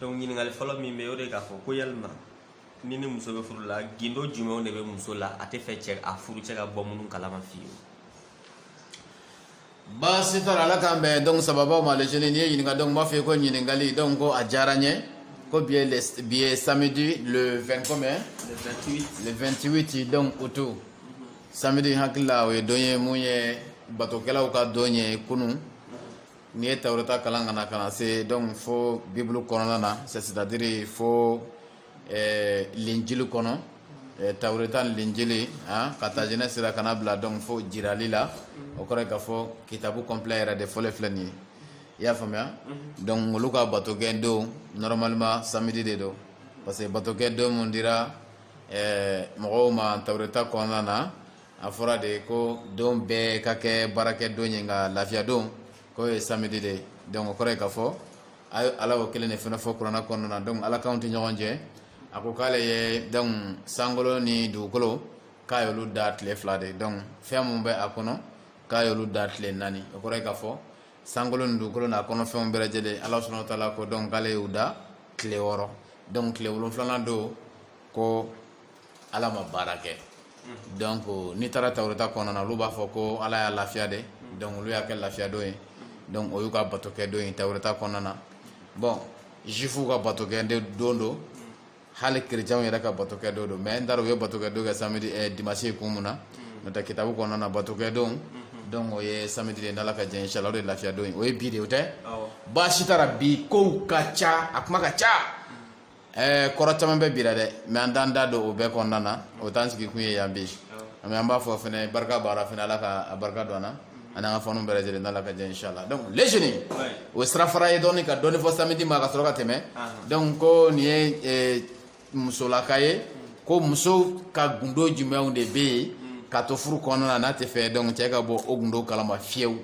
donc ɲininkali fɔlɔ min bɛ o de k'a fɔ ko yalima ni ni muso bɛ furu la gundo jumɛnw de bɛ muso la a tɛ fɛ cɛ a furucɛ ka bɔ minnu kalama fiyewu baasi t'a la ala k'an bɛn donc sababaw ma les jeunes n'i ye ɲininka donc n b'a fɔ i ye ko ɲininkali donc ko a diyara n ye ko bi ye le bi ye samedi le 20 combien le 28 le 28 donc août samedi n hakili la o ye don ye mun ye batokɛlaw ka don ye kunun n'i ye tawureta kalan ka na ka na se donc fo bibulu kɔnɔna na c'est à dire fo eh, linjili kɔnɔ eh, tawureta ni linjili ah, ka ta jenɛsi ra ka n'a bila donc fo jirali la o kɔrɔ ye k'a fɔ kitabu complet yɛrɛ de fɔlen filɛ nin ye i y'a faamuya mhm. donc olu ka batokɛ don normalement samedi de don parce que batokɛ don mun dira eh, mɔgɔw ma tawureta kɔnɔna na a fɔra de ko don bɛɛ ka kɛ baarakɛ don ye nka lafiya don k'o ye samedi de ye donc o kɔrɔ ye k'a fɔ a ye ala y'o kelen de fana fɔ kuranɛ kɔnɔna na donc ala kanw tɛ ɲɔgɔn jɛ a ko k'ale ye donc sankolo ni dugukolo k'a y'olu da tile fila de donc fɛn min bɛ a kɔnɔ k'a y'olu da tile naani o kɔrɔ ye k'a fɔ sankolo ni dugukolo n'a kɔnɔfɛnw bɛɛ lajɛlen ala subhanahu wa taala ko donc k'ale y'u da tile wɔɔrɔ donc tile wolonfilanan don ko ala ma baara kɛ donc n'i taara tawureta kɔnɔna na olu b'a fɔ ko ala y'a lafiya dɛ donc olu y'a kɛ lafiya don ye donc o y'u ka bato kɛ don ye tawureta kɔnɔna na bon juifuw ka bato kɛ don don hali kerecɛnw yɛrɛ ka bato kɛ don don mais n t'a dɔn u ye bato kɛ don kɛ samedi eh, dimanche kun mun na n'o tɛ kitabu kɔnɔna na bato kɛ don donc o ye samedi de n'ala ka jɛ inshallah o de ye lafiya don ye o ye bi de o tɛ baasi t'a la bi kow ka ca a kuma ka ca eh, kɔrɔ caman bɛ bi ra dɛ mais an t'an da don o bɛɛ kɔnɔna na o t'an sigi kun ye yan bi mais an b'a fɔ fɛnɛ barika b'a la fɛnɛ ala ka a barika don an na ani an ka fɛnw bɛɛ lajɛlen n'ala ka jɛ inshallah donc les jeunes o ye sirafara ye dɔɔni ka dɔɔni fɔ samedi ma ka sɔrɔ ka tɛmɛ donc ko nin ye eh, musolaka ye ko muso ka gundo jumɛnw de bɛ yen k'a to furu kɔnɔna na n'a tɛ fɛ donc cɛ ka bɔ o gundo kalama fiyewu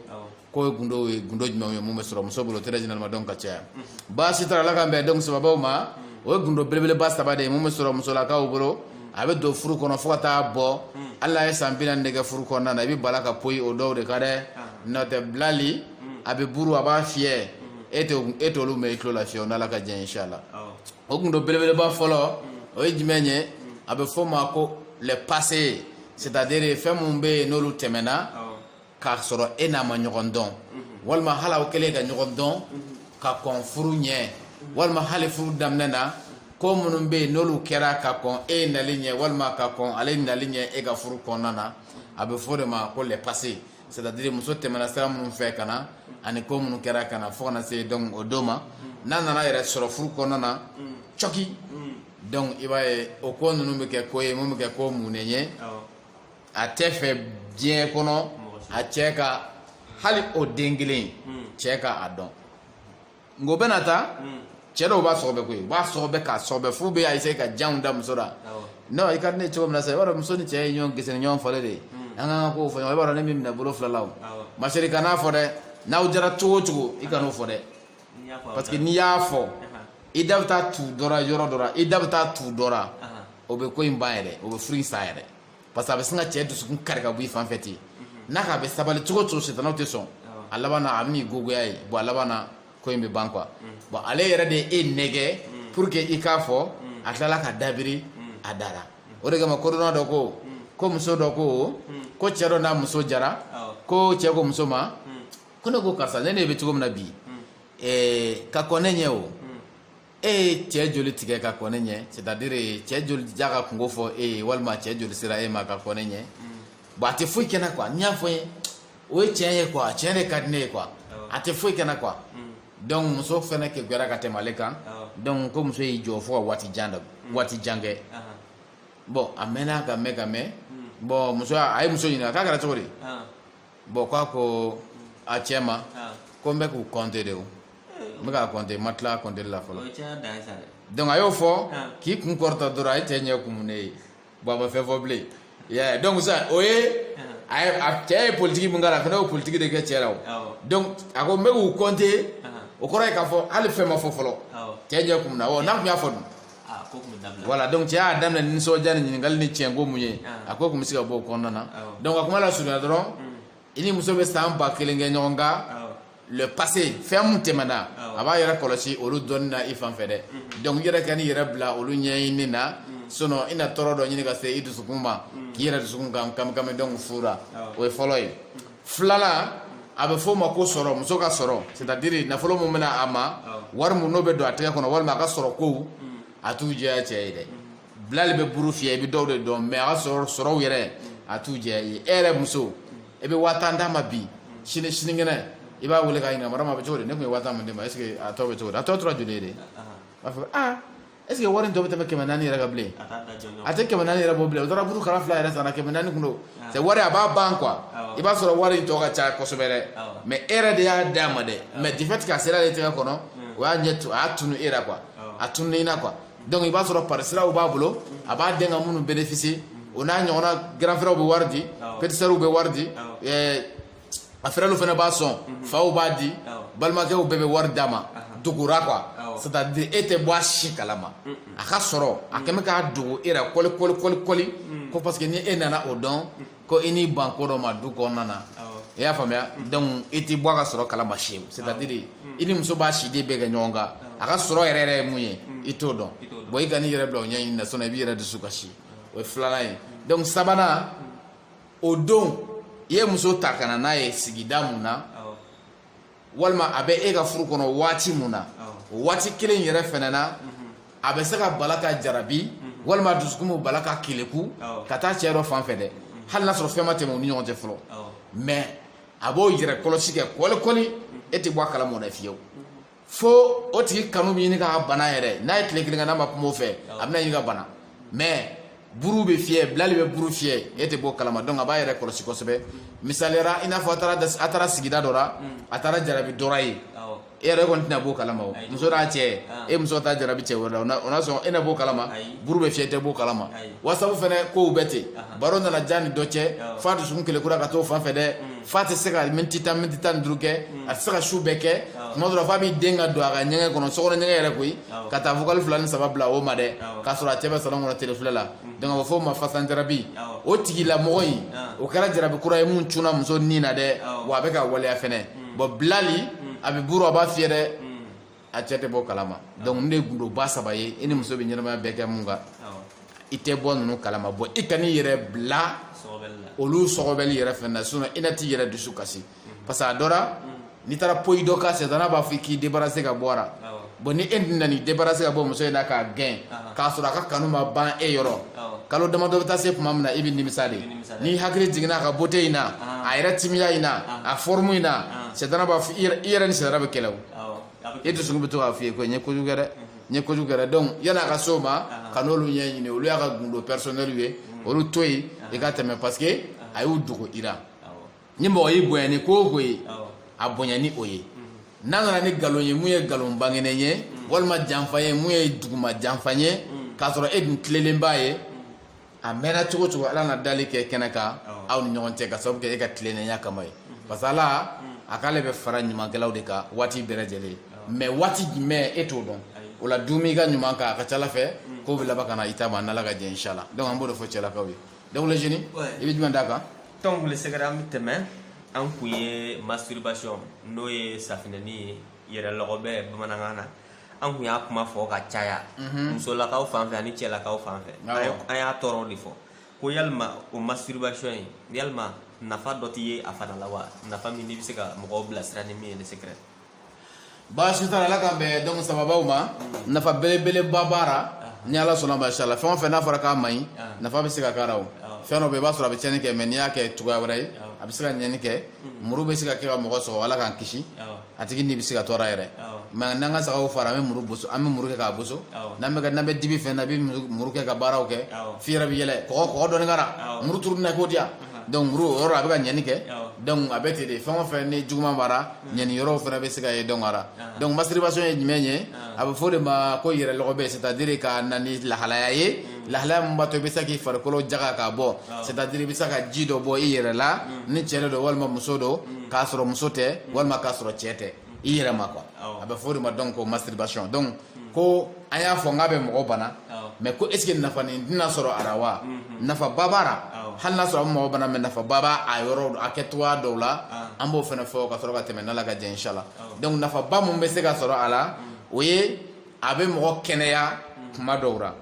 k'o ye gundo ye gundo jumɛnw ye mun bɛ sɔrɔ muso bolo très généralement donc ka caya baasi t'a la ala k'an bɛn donc sababaw ma o ye gundo belebeleba saba de ye mun bɛ sɔrɔ musolakaw bolo a bɛ don furu kɔnɔ fo ka taa bɔ hali n'a ye san bi naani de kɛ furu kɔnɔna na i bɛ bala ka poyi o dɔw de kan dɛ n'o tɛ bilali a bɛ buru a b'a fiyɛ e t'o e t'olu mɛn i tulo la fiyewu n'ala ka jɛ inshallah o gundo belebeleba fɔlɔ o ye jumɛn ye a bɛ f'o ma ko le passé c'est-à-dire fɛn minnu bɛ yen n'olu tɛmɛna k'a sɔrɔ e n'a ma ɲɔgɔn dɔn walima hali aw kɛlen ka ɲɔgɔn dɔn ka kɔn furu ɲɛ walima hali furu daminɛ na ko minnu bɛ yen n'olu kɛra ka kɔn e nali ɲɛ walima ka kɔn ale nali ɲɛ e ka furu kɔnɔna na a bɛ f'o de ma ko le passé c'est à dire muso tɛmɛna sira minnu fɛ ka na ani ko minnu kɛra ka na fo ka na se donc o don ma n'a nana yɛrɛ sɔrɔ furu kɔnɔna na cɔki donc i b'a ye o ko ninnu bɛ kɛ ko ye mun bɛ kɛ ko munnen ye a tɛ fɛ diɲɛ kɔnɔ a cɛ ka hali o den kelen hmm. cɛ ka a dɔn nka o bɛna taa hmm. cɛ dɔw b'a sɔgɔbɛ koyi u b'a sɔgɔbɛ k'a sɔgɔbɛ f'u bɛ a essayer ka janw da muso la non i ka di ne ye cogo min na sisan i b'a dɔn muso ni cɛ ye ɲɔgɔn gese ni ɲɔgɔn falen de ye hmm. an k'an ka kow fɔ ɲɔgɔn i b'a dɔn ne b'i minɛ bolo fila la o ma chérie kan'a fɔ dɛ n'aw jara cogo o cogo i kan'o fɔ dɛ parce que n'i y'a fɔ i da bɛ taa tu dɔ la yɔrɔ dɔ la i da bɛ taa tu dɔ la o bɛ ko in ban yɛrɛ o bɛ furu in sa yɛrɛ parce que a bɛ sin ka cɛ dusukun kari ka bɔ i fan fɛ ten n'a k'a bɛ sabali cogo o cogo sitanaw tɛ sɔn a laban na a bɛ n'i gogoya ye bon a laban na ko in bɛ ban quoi bon ale yɛrɛ de ye e nɛgɛ pour que i k'a fɔ a tilala ka dabiri a dara o de kama kodɔnna dɔ ko ko muso dɔ ko ko cɛ dɔ n'a muso jara ko cɛ ko muso ma ko ne ko karisa ne n'e bɛ cogo min na bi eh, ka kɔn ne ɲɛ o e ye cɛ joli tigɛ ka kɔn ne ɲɛ c'est à dire cɛ joli y'a ka kunko fɔ e ye walima cɛ joli sera e ma ka kɔn ne ɲɛ bon a tɛ foyi kɛ n na quoi n'i y'a fɔ n ye o ye tiɲɛ ye quoi tiɲɛ de ka di ne ye quoi a tɛ foyi kɛ n na quoi donc muso fɛnɛ kekuyara ka tɛmɛ ale kan donc ko muso y'i jɔ fo ka waati jan da waati jan kɛ bon a mɛnna ka mɛn ka mɛn bon muso a ye muso ɲininka k'a kɛra cogo di bon k'a ko a cɛ ma ko n bɛ k'u compter de o n bɛ k'a compter n ma tila compter la fɔlɔ donc a y'o fɔ k'i kun kɔrɔta dɔrɔn a ye cɛ ɲɛ kumunen ye bon a ma fɛn fɔ bilen yeah. donc ça o ye a cɛ ye politique min k'a la a fana y'o politique de kɛ cɛ la o donc a ko n bɛ k'u compter o kɔrɔ ye k'a fɔ hali fɛn ma fɔ fɔlɔ cɛ ɲɛ kumuna ɔ n'a tun y'a fɔ dun voilà donc cɛ y'a daminɛ ni nisɔndiya ni ɲininkali ni tiɲɛ ko mun ye ah. a ko tun bɛ se ka bɔ o kɔnɔna na donc a kuma lasurunya dɔrɔn hmm. i ni muso bɛ san ba kelen kɛ ɲɔgɔn kan le passé fɛn mun tɛmɛna a b'a yɛrɛ kɔlɔsi olu dɔnni na i fan fɛ dɛ hmm. donc i yɛrɛ kan'i yɛrɛ bila olu ɲɛɲini na hmm. sinon i na tɔɔrɔ dɔ ɲini ka se i dusukun ma k'i yɛrɛ dusukun kan kamikami donc fura o ye fɔlɔ ye filanan a bɛ f'o ma ko sɔrɔ muso ka sɔrɔ c'est à dire nafolo min bɛna a ma wari min n'o bɛ don a tɛgɛ kɔnɔ walima a ka sɔrɔ kow a t'u jɛya cɛ ye dɛ bilali bɛ buru fiyɛ i bɛ dɔw de dɔn mais a ka sɔrɔ sɔrɔw yɛrɛ a t'u jɛya ye e yɛrɛ muso e bɛ waa tan d'a ma bi sini sinikɛnɛ i b'a wele k'a ɲininka marama a bɛ cogo di ne tun ye waa tan min d'i ma est ce que a tɔ bɛ cogo di a tɔ tora joli ye de a b'a fɔ aa est ce que wari in tɔ bɛ tɛmɛ kɛmɛ naani yɛrɛ kan bilen a tɛ kɛmɛ naani yɛrɛ bɔ bilen o taara buru kala fila yɛrɛ sanna kɛmɛ naani kɔnɔ c'est wari a b'a ban quoi i b'a sɔrɔ wari in tɔ ka ca kosɛbɛ dɛ mais e yɛrɛ de y'a d'a ma dɛ mais du fait que a sera ale tɛgɛ kɔnɔ o y'a ɲɛ a y'a tunu e ra quoi a tununa i na quoi donc i b'a sɔrɔ parisiraw b'a bolo a b'a den ka minnu bénéficier o n'a ɲɔgɔnna grand frère bɛ wari di petit sœur bɛ wari di a fɛrɛlu fana b'a sɔn mhm. faw b'a di balimakɛw bɛɛ bɛ wari d'a ma dogora quoi c'est à dire e tɛ bɔ a si kalama a ka sɔrɔ hakɛ bɛ k'a dogo e la kɔli kɔli kɔli kɔli mm. ko parce que ni e nana o dɔn mm. ko i n'i ban ko dɔ ma du kɔnɔna na i y'a faamuya mm. donc i tɛ bɔ a ka sɔrɔ kalama si c'est à dire i ni muso b'a si de bɛɛ kɛ ɲɔgɔn kan a ka sɔrɔ yɛrɛ yɛrɛ ye mun ye i t'o dɔn bon i kan'i yɛrɛ bila o ɲɛɲini na sinon i b'i yɛrɛ dusu kasi o ye filanan ye donc sabanan o don i ye muso ta ka na n'a ye sigida mun na walima a bɛ e ka furu kɔnɔ waati mun na o waati kelen yɛrɛ fɛnɛ na mhm. a bɛ se ka bala ka jarabi mhm. walima dusukun bɛ bala ka keleku ka taa cɛ dɔ fan fɛ dɛ mhm. hali n'a sɔrɔ fɛn ma tɛmɛ u ni ɲɔgɔn cɛ fɔlɔ mais a b'o yɛrɛ kɔlɔsi kɛ kɔlikɔli e tɛ bɔ a kalama o la fiyewu fo o tigi kanu bɛ ɲini k'a bana yɛrɛ n'a ye tile kelen kɛ n'a ma kuma o fɛ a bɛna ɲini ka bana mais buru bɛ fiyɛ bilali bɛ buru fiyɛ e tɛ b'o kalama donc a b'a yɛrɛ kɔlɔsi kosɛbɛ misaliyara i n'a fɔ a taara sigida dɔ la a taara jarabi dɔ ra yen e yɛrɛ kɔni tɛna b'o kalama o muso n'a cɛ e muso taa jarabi cɛ wɛrɛ la o n'a sɔrɔ e na b'o kalama buru bɛ fiyɛ tɛ b'o kalama whatsapp fɛnɛ kow bɛ ten baro nana diya a ni dɔ cɛ f'a dusukun kelekura ka t'o fan fɛ dɛ f'a tɛ se ka miniti tan miniti tan ni duuru kɛ a tɛ se ka su bɛɛ kɛ tuma dɔ la f'a b'i den ka don a ka ɲɛgɛn kɔnɔ sokɔnɔ ɲɛgɛn yɛrɛ koyi ka taa vocal fila ni saba bila o ma dɛ k'a sɔrɔ a cɛ bɛ salon kɔnɔ tele filɛ la donc a b'a f'o ma fasanjarabi o tigilamɔgɔ in o kɛra jarabi kura ye mun cunna muso nin na dɛ wa a bɛ k'a waleya fɛnɛ bon bilali a bɛ buru a b'a fiyɛ dɛ a cɛ tɛ b'o kalama donc nin ye gundoba saba ye i ni muso bɛ ɲɛnamaya bɛɛ kɛ mun kan i tɛ bɔ ninnu kalama bon i kan'i yɛrɛ bila olu sɔgɔbɛli yɛrɛ fɛnɛ na sinon i na t'i yɛrɛ dusu kasi mm. parce que a dɔ ra mm. n'i taara point dɔ kan sɛtana b'a fɔ i k'i débarrasser ka bɔ a la bon ni e dun nana i débarrasser ka bɔ muso in na k'a gɛn k'a sɔrɔ a ka kanu ma ban e yɔrɔ kalo damadɔ bɛ taa se tuma min na i bɛ nimisa de n'i hakili jiginna a ka beauté in na a yɛrɛ timiya in na a forme in na sɛtana b'a fɔ i yɛrɛ ni sɛtana bɛ kɛlɛ o e dusukun bɛ to k'a f'i ye ko n ye kojugu kɛ dɛ n ye kojugu kɛ dɛ donc yan'a ka s'o ma kan'olu ɲɛɲini olu y'a ka gundo personnel ye olu to yen i ka tɛmɛ parce que a y'u dogo i la ni mɔgɔ y'i bonya ni ko o ko ye a bonya ni o ye n'a nana ni nkalon ye mun ye nkalon bangenen ye walima janfa ye mun ye duguma janfa ye k'a sɔrɔ e dun tilelenba ye a mɛnna cogo cogo ala na dali kɛ kɛnɛ kan aw ni ɲɔgɔn cɛ ka sababu kɛ e ka tilennenya kama ye parce que ala a k'ale bɛ fara ɲumankɛlaw de kan waati bɛɛ lajɛlen mais waati jumɛn e t'o dɔn o la duumɛ i ka ɲuman kan a ka ca ala fɛ k'o bɛ laban ka na i ta ma a n'ala ka jɛ inshallah donc an b'o de fɔ cɛlakaw ye donc le génie i bɛ jumɛn d'a kan donc le secret an bɛ tɛmɛ an kun ye masturbation n'o ye safinɛni ye yɛrɛ lɔgɔbɛ bamanankan na an kun y'a kuma fɔ ka caya mhm. musolakaw fan fɛ ani cɛlakaw fan fɛ an y'a tɔɔrɔ de fɔ ko yalima o masturbation ye yalima nafa dɔ tɛ ye a fana la wa nafa min n'i bɛ se ka mɔgɔw bilasira ni min ye le secret baasi t'a la ala k'an bɛn donc sababaw ma mm. nafa belebeleba b'a la ah. ni ala sɔnna ma inshallah fɛn o fɛn n'a fɔra k'a man ɲi ah. nafa bɛ se ka k'a la o ah. fɛn dɔ bɛ i b'a sɔrɔ a bɛ tiɲɛni kɛ mais n'i y'a kɛ cogoya wɛrɛ ye a bɛ se ka ɲɛni kɛ mm. muru bɛ se ka kɛ ka mɔgɔ sɔgɔ ala k'an kisi a tigi ni bɛ se ka to a ra yɛrɛ mais n'an ka sagaw faga an bɛ muru boso an bɛ muru kɛ k'a boso n'an bɛ n'an bɛ dibi fɛn na bɛ muru kɛ ka baaraw kɛ fi yɛrɛ bɛ yɛlɛ kɔgɔ kɔgɔ dɔɔni k'a ra muru turu na ko diya donc muru o yɔrɔ a bɛ ka ɲɛni kɛ donc a bɛ ten de fɛn o fɛn ni juguman b'a ra ɲɛni yɔrɔw fana bɛ se ka ye donc a ra donc masturbation ye jumɛn ye a bɛ fɔ de ma ko yɛrɛ lɔgɔbɛ c'est-à-dire ka na ni lahalaya ye lahalaya min b'a to i bɛ se k'i farikolo jaga k'a bɔ c'est-à-dire i bɛ se ka ji dɔ bɔ i yɛrɛ la ni cɛ de don walima muso don k'a sɔrɔ muso tɛ walima k'a sɔrɔ cɛ tɛ i yɛrɛ ma quoi a bɛ fɔ o de ma donc ko masturbation donc ko an y'a fɔ n k'a bɛ mɔgɔ bana mais ko est-ce que nafa nin tɛna sɔrɔ a la wa nafaba b'a la hali n'a sɔrɔ a bɛ mɔgɔ bana mais nafaba b'a a yɔrɔ a kɛcogoya dɔw la an b'o fana fɔ ka sɔrɔ ka tɛmɛ n'Ala ka jɛ ye inchallah donc nafaba min bɛ se ka sɔrɔ a la o ye a bɛ mɔgɔ kɛnɛya kuma dɔw ra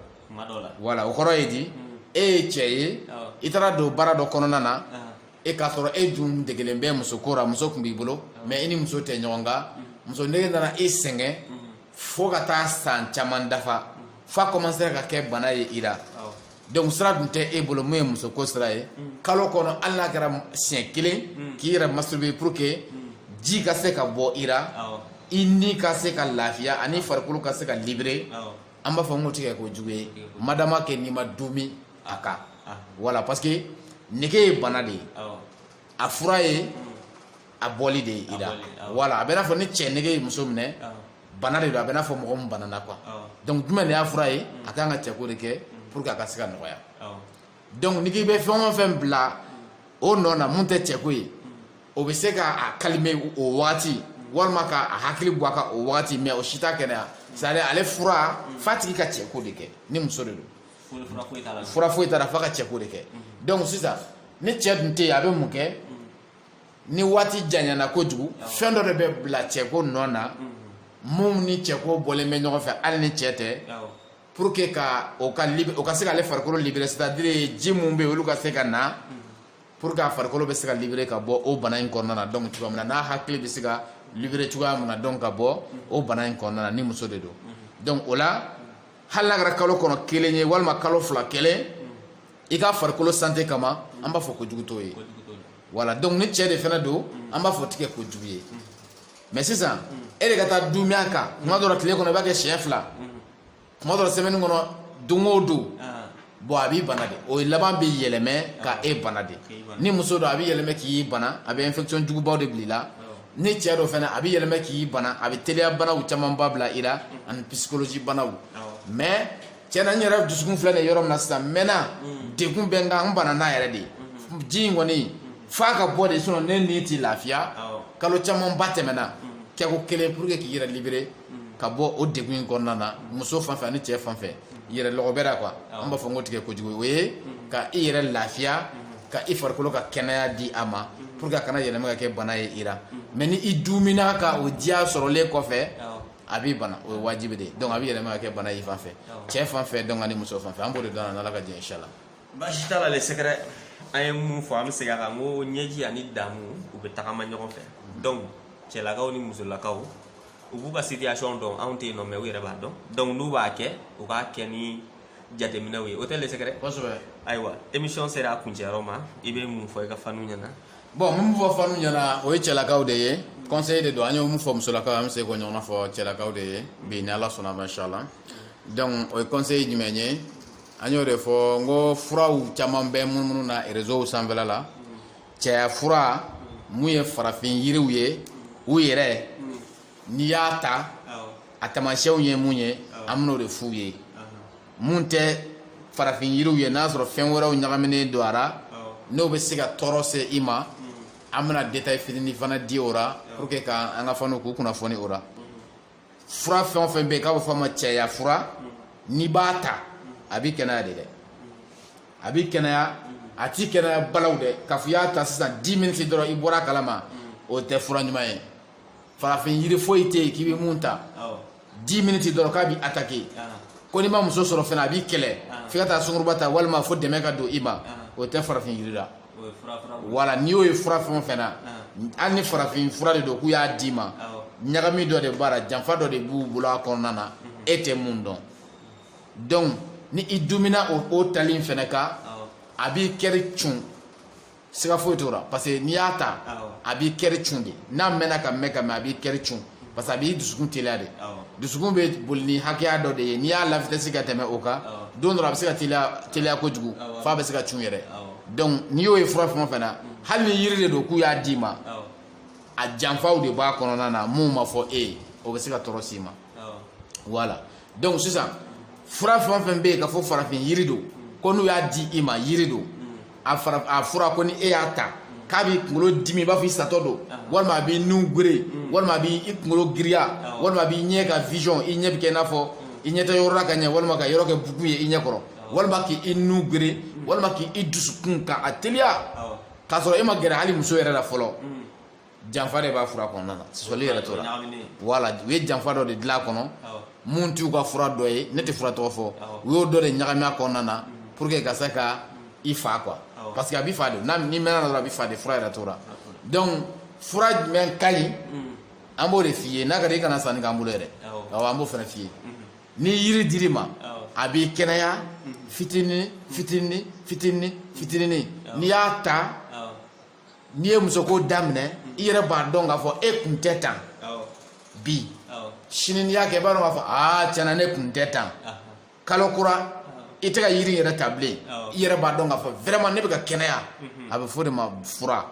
voilà o kɔrɔ ye di mm. e ye cɛ ye i taara don baara dɔ kɔnɔna na e k'a sɔrɔ e dun degelen bɛ muso ko ra muso kun b'i bolo mais i ni muso tɛ ɲɔgɔn kan mm. muso nege nana e sɛgɛn mm. fo ka taa san caman dafa f'a commencer ka kɛ bana ye i ra donc sira dun tɛ e bolo mun ye muso ko sira ye kalo kɔnɔ hali n'a kɛra siɲɛ kelen k'i yɛrɛ masturber pour que ji ka se ka bɔ i ra i ni ka se ka lafiya ani farikolo ka se ka libérer an b'a fɔ n k'o tɛ kɛ kojugu ye madama kɛ n'i ma duumɛ a kan voilà parce que nege ye bana de ye a fura ye a bɔli de ye i ra voilà a bɛ n'a fɔ ni cɛ nege ye muso minɛ bana de don a bɛ n'a fɔ mɔgɔ min banana quoi donc jumɛn de y'a fura ye mm. a kan ka cɛko de kɛ mm. pour que a ka se ka nɔgɔya donc ni k'i bɛ fɛn o fɛn bila o nɔ na mun tɛ cɛko ye mm. o bɛ se ka a calmer o waati walima ka a hakili bɔ a kan o waati mais o si t'a kɛnɛya c'est à dire ale fura f'a tigi ka cɛko de kɛ ni muso de don fura foyi t'a la f'a ka cɛko de kɛ donc sisan ni cɛ dun tɛ yen a bɛ mun kɛ ni waati janyana kojugu fɛn dɔ de bɛ bila cɛko nɔ na mun ni cɛko bɔlen bɛ ɲɔgɔn fɛ hali ni cɛ tɛ pour que ka o ka o ka se k'ale farikolo libérer c'est-à-dire ji minnu bɛ yen olu ka se ka na pour que a farikolo bɛ se ka libérer ka bɔ o bana in kɔnɔna na donc cogoya min na n'a hakili bɛ se ka libérer cogoya min na donc ka bɔ o bana in kɔnɔna na ni muso de don donc o la hali n'a kɛra kalo kɔnɔ kelen ye walima kalo fila kelen i ka farikolo santé kama an b'a fɔ ko jugu t'o ye voilà donc ni cɛ de fana don an b'a fɔ tɛ kɛ ko jugu ye mais sisan e de ka taa dumi a kan kuma dɔ la tile kɔnɔ i b'a kɛ siɲɛ fila kuma dɔ la semaine kɔnɔ don o don bon a b'i bana de o laban bɛ yɛlɛmɛ ka e bana de ni muso don a bɛ yɛlɛmɛ k'i bana a bɛ infection jugubaw de bila i la ni cɛ don fana a bɛ yɛlɛmɛ k'i bana a bɛ teliya banaw camanba bila i la ani psychologie banaw mais cɛ na n yɛrɛ dusukun filɛ nin yɔrɔ min na sisan mɛnna mm. degun bɛ n kan n banana yɛrɛ de mm-hmm. ji in kɔni f'a ka bɔ de sinon ne ni ti lafiya kalo camanba tɛmɛna mm-hmm. kɛko kelen pour que k'i yɛrɛ libérer mm-hmm. ka bɔ o degun in kɔnɔna na muso fan fɛ ani cɛ fan fɛ yɛrɛ lɔgɔbɛ ra quoi an b'a fɔ n ko tɛ kɛ kojugu o ye ka i yɛrɛ lafiya ka i farikolo ka kɛnɛya di a ma pour que a kana yɛlɛma ka kɛ bana ye i la mais ni i dumina ka o diya sɔrɔlen kɔfɛ a b'i bana o ye wajibi de ye donc a bɛ yɛlɛma ka kɛ bana y'i fan fɛ cɛ fan fɛ donc ani muso fan fɛ an b'o de dɔn n'ala ka jɛ inshallah baasi t'a la le secret an ye mun fɔ an bɛ segin a kan n ko ɲɛji ani damu u bɛ tagama ɲɔgɔn fɛ donc cɛlakaw ni musolakaw u b'u ka situation dɔn anw tɛ yen non mais u yɛrɛ b'a dɔn donc n'u b'a kɛ u k'a kɛ ni jateminɛw ye o tɛ le secret kosɛbɛ ayiwa émission sera a kuncɛyɔrɔ ma i bɛ mun fɔ i ka faniw ɲɛna bon min bɛ fɔ fanw ɲɛna o ye cɛlakaw de ye conseil de don an ye mun fɔ musolakaw an bɛ se k'o ɲɔgɔnna fɔ cɛlakaw de ye bi ni ala sɔnna ma inshallah donc o ye conseil jumɛn ye an y'o de fɔ n ko furaw caman bɛ munumunu na réseaux sanfɛla la cɛya fura mun ye farafin yiriw ye u yɛrɛ n'i y'a ta a taamasiyɛnw ye mun ye an bɛn'o de f'u ye mun tɛ farafin yiriw ye n'a sɔrɔ fɛn wɛrɛw ɲagaminen don a ra n'o bɛ se ka tɔɔrɔ se i ma an bɛna détail fitinin fana di o la pour que ka an ka faniw k'u kunnafoni o la fura fɛn o fɛn bɛ yen k'a bɛ fɔ a ma cɛya fura n'i b'a ta a b'i kɛnɛya de dɛ a b'i kɛnɛya a t'i kɛnɛya balaw dɛ k'a fɔ i y'a ta sisan 10 minutes dɔrɔn i bɔra a kalama o tɛ fura ɲuman ye farafin yiri foyi tɛ yen k'i bɛ mun ta 10 minutes dɔrɔn k'a b'i attaquer ko n'i ma muso sɔrɔ fana a b'i kɛlɛ f'i ka taa sungurunba ta walima fo dɛmɛ ka don i ma o tɛ farafin yiri la voilà n'i y'o ye fura fɛn o fɛn na hali ni farafin fura de don k'u y'a d'i ma ɲagami dɔ de b'a la janfa dɔ de b'u bolo a kɔnɔna na e tɛ mun dɔn donc ni i dumina o tali in fana kan a b'i kɛri cun siga foyi t'o la parce que n'i y'a ta a b'i kɛri cun de n'a mɛnna ka mɛn ka mɛn a b'i kɛri cun parce que a b'i dusukun teliya de dusukun bɛ boli ni hakɛya dɔ de ye n'i y'a la vitesse ka tɛmɛ o kan don dɔ la a bɛ se ka teliya kojugu f'a bɛ se ka cun yɛrɛ donc n'i y'o ye fura fɛn o fɛn na hali ni yiri de don k'u y'a d'i ma a janfaw de b'a kɔnɔna na mun ma fɔ e ye o bɛ se ka tɔɔrɔ s'i ma voilà donc sisan fura fɛn o fɛn bɛ yen ka fɔ farafin yiri don ko n'u y'a di i ma yiri don a fura ko ni e y'a ta k'a b'i kunkolo dimi i b'a fɔ i satɔ don walima a b'i nun gere walima a b'i kunkolo giriya walima a b'i ɲɛ ka vision i ɲɛ bɛ kɛ i n'a fɔ i ɲɛ tɛ yɔrɔ la ka ɲɛ walima ka yɔrɔ kɛ bugu ye i ɲɛ kɔrɔ walima k'i nun gere walima k'i dusukun ka a teliya k'a sɔrɔ e ma gɛrɛ hali muso yɛrɛ la fɔlɔ janfa de b'a fura kɔnɔna na sɔsɔli yɛrɛ t'o la voilà u ye janfa dɔ de dilan a kɔnɔ mun t'u ka fura dɔ ye ne tɛ fura tɔgɔ fɔ u y'o dɔ de ɲagami a kɔnɔna na mm-hmm. pour que ka se ka i fa quoi parce que a b'i fa de n'a n'i mɛnna dɔrɔn a b'i fa de fura yɛrɛ t'o la donc fura jumɛn ka ɲi mm. an b'o de f'i ye n'a ka di i kana sanni k'an bolo yɛrɛ awɔ an b'o fana f'i ye mm-hmm. ni yiri dir'i ma a b'i kɛnɛya mm-hmm. fitinin fitinin fitinin fitinin n'i y'a ta n'i ye muso ko daminɛ i yɛrɛ b'a dɔn k'a fɔ e kun tɛ tan bi sini n'i y'a kɛ i b'a dɔn k'a fɔ aa tiɲɛna ne kun tɛ tan kalo kura i tɛ ka yiri yɛrɛ ta bilen i yɛrɛ b'a dɔn k'a fɔ vraiment ne bɛ ka kɛnɛya mhm. a bɛ f'o de ma fura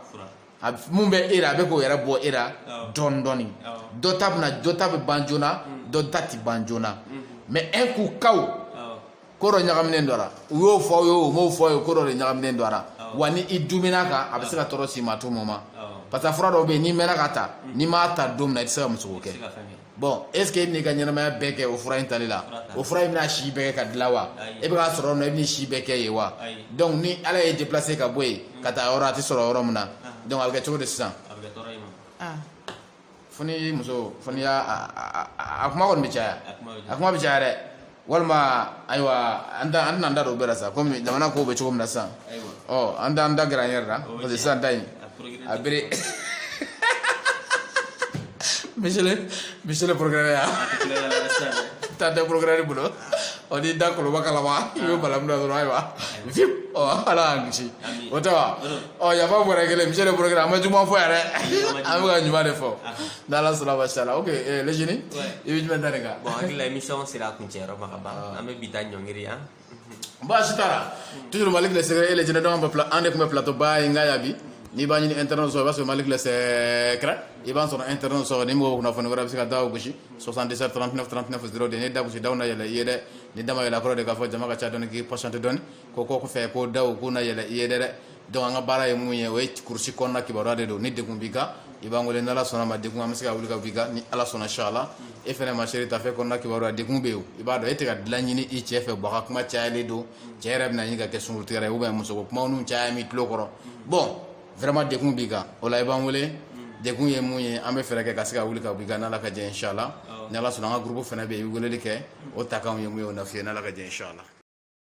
mun bɛ e la a bɛ k'o yɛrɛ bɔ e la dɔɔni dɔɔni dɔ ta bɛna dɔ ta bɛ ban joona mhm. dɔ ta tɛ ban joona mhm. mais un coup kaw ko dɔ ɲagaminen don a la u y'o fɔ aw ye o m'o fɔ aw ye ko dɔ de ɲagaminen don a la wa ni i dumina kan a bɛ se ka tɔɔrɔ s'i ma tout moment parce que fura dɔw bɛ yen n'i mɛnna k'a ta mm. n'i m'a ta don min na i tɛ se ka muso ko kɛ bon est ce que e bɛn'i ka ɲɛnamaya bɛɛ kɛ o fura in tali la o fura in bɛna si bɛɛ kɛ k'a dilan wa e bɛ k'a sɔrɔ yɔrɔ min na e bɛn'i si bɛɛ kɛ yen wa donc ni ala y'i déplacer ka bɔ yen ka taa yɔrɔ a tɛ sɔrɔ yɔrɔ min na donc a bɛ kɛ cogo di sisan. fo ni muso fo n'i y'a a kuma kɔni bɛ caya a kuma bɛ caya dɛ walima ayiwa an tɛn'an da don o bɛɛ la sa kɔmi jamana kow bɛ cogo min na sisan ɔ an t'an da gɛrɛ an yɛrɛ la parce que sisan ta in a bere monsieur le procureur yan taa da procureur bolo ɔ n'i da koloba kalama i bɛ balamu da dɔrɔn ayiwa vip ɔ ala y'an kisi o tɛ wa ɔ yafa procureur monsieur le procureur an ma juguman fɔ yɛrɛ an bɛ ka ɲuman de fɔ n'ala sɔnna masha Allah ok eh, le génie i bɛ jumɛn da nin kan. bon hakili la émission sera a kuncɛ yɔrɔ ma ka ban an bɛ bi ta ɲɔngiri yan. baasi t'a la toujours Malick le secret et le génie donc an bɛ pla an de tun bɛ plateau ba in kan yan bi n'i b'a ɲini internet sɔrɔ i b'a sɔrɔ Malick le secret i b'a sɔrɔ internet sɔrɔ ni mɔgɔw kunnafoni wɛrɛ bɛ se ka da o gosi. 77 39 39 0 de n'i da gosi daw na yɛlɛ i ye dɛ ni da ma yɛlɛ a kɔrɔ de k'a fɔ jama ka ca dɔɔni k'i patienter dɔɔni ko ko kɔfɛ ko daw k'u na yɛlɛ i ye dɛ dɛ donc an ka baara ye mun ye o ye kurusi kɔnɔna kibaruya de don ni degun b'i kan i b'an wele n'ala sɔnna ma degun an bɛ se ka wuli ka b'i kan ni ala sɔnna inchallah e fɛnɛ ma chérie tafe kɔnɔna kibaruya degun bɛ yen i b'a dɔn e tɛ ka dilan ɲini i cɛ fɛ baga kuma cayalen don cɛ yɛrɛ bɛna ɲini ka kɛ sunkurutigɛra ye ou bien musoko kumaw n'u caya min tulo kɔrɔ bon Vraiment degun b'i kan o la i b'an wele degun ye mun ye an bɛ fɛɛrɛ kɛ ka se ka wuli ka bɔ i kan n'Ala ka jɛn ye inchallah ni Ala sɔnna an ka groupe fɛnɛ bɛ yen i bɛ weleli kɛ o ta kanw ye mun ye o na f'i ye n'Ala ka jɛn ye inchallah